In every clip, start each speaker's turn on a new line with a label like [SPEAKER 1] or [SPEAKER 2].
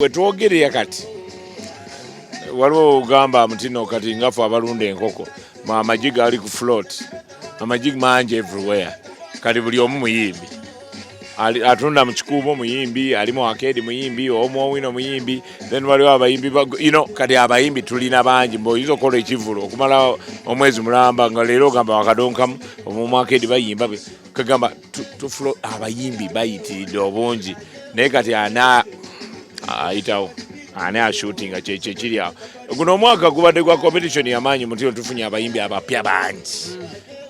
[SPEAKER 1] Wetwogerera kati waliwo ogamba mutino kati ngafe abalunda enkoko amagi gali ku float amagi mangi everywhere kati buli omu muyimbi atunda mu kikuubo muyimbi ali mu akeedi muyimbi omu owino muyimbi then waliwo abayimbi you know kati abayimbi tulina bangi mbu oyinza okukola ekivulu okumala omwezi mulamba nga leero ogamba wakadonkamu omu akeedi bayimba kagamba tufulo abayimbi bayitiridde obungi naye kati ana ayitawo ani ashutinga kyekyekiri awo guno omwaka gubadde gwa competition yamaanyi mutino tufunye abayimbi abapya bangi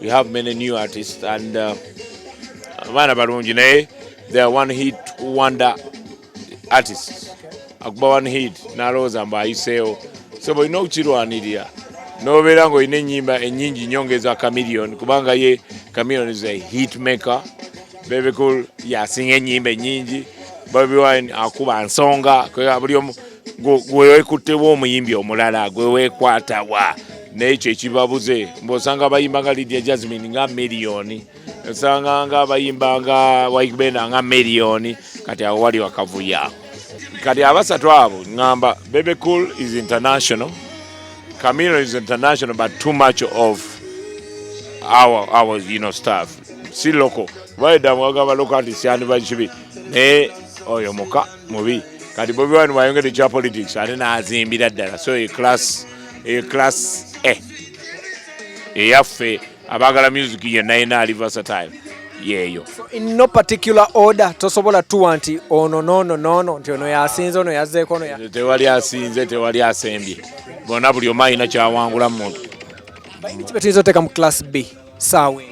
[SPEAKER 1] we have many new artists and uh, abaana uh, balungi naye they are one hit wonder artists akuba one hit nalowooza mbu ayiseewo so bwolina okukirwanirira nobeera nga olina enyimba enyingi nyo ngeza camilion kubanga ye camilion is a hit maker bebekul yasinga enyimba enyingi bobi wine akuba nsonga buli omu gwewekuttewo omuyimbi omulala gwewekwatawa naye kyekibabuze mbu osanga abayimba nga lidia jasmine nga miliyoni osanganga bayimbanga waikubenda nga miliyoni kati awo wali wakavuya kati abasatu abo ngamba bebe cool is international camilo is international but too much of our, our you know, staff si loko baedamwagamba loko ati syandibakibi naye oyo muka mubi kati bobi wani wayongede kya politics ate nazimbira ddala so eclass eclass e eh, eyaffe abagala music yenna yenna ali versatile yeeyo in no
[SPEAKER 2] particular order tosobola tuwa nti ono nono nono nti ono yasinze ono yazzeeko ono tewali asinze
[SPEAKER 1] tewali asembye bona buli omu alina kyawangula mumuntu ki betuyinza
[SPEAKER 2] oteeka mu class b saawe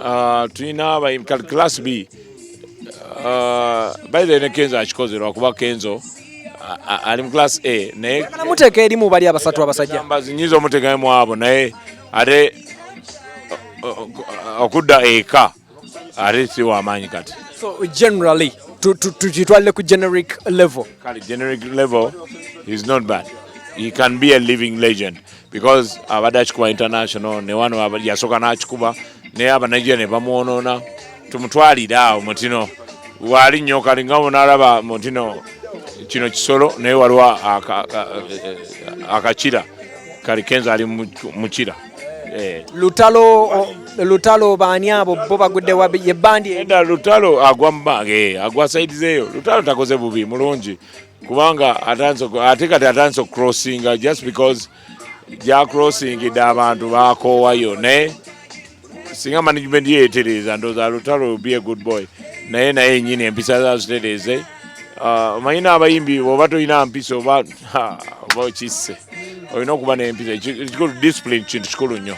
[SPEAKER 2] ah,
[SPEAKER 1] tulina class b ah, baire ne kenzo akikoze lwakuba kenzo ali mu class a naye muteeka erimu bali
[SPEAKER 2] abasatu abasajja nyinza omuteekamu
[SPEAKER 1] abo naye ate okudda eka ate si wamaanyi kati so generally
[SPEAKER 2] tukitwalire ku generic level kale generic level
[SPEAKER 1] is not bad he can be a living legend because abadde akikuba international ne wano yasooka n'akikuba naye abanigeria ne bamwonoona tumutwalire awo mutino waali nnyo kali nga bunalaba mutino kino kisolo naye waliwo akakira kali kenza ali mukira eh. lutalo
[SPEAKER 2] lutalo baani abo bo bagudde yebandi eda lutalo
[SPEAKER 1] agwa mubange eh, agwa saidi zeeyo lutalo takoze bubi mulungi kubanga ate kati atandise okucrossinga just because gyakrosingidde abantu bakoowayo naye singa management ye etereeza ndooza lutalo be a good boy naye naye enyini empisa zazitereeze ah, omanyi n'abayimbi oba tolina mpisa oba oba okisse olina okuba n'empisa ekikulu discipline kintu kikulu nnyo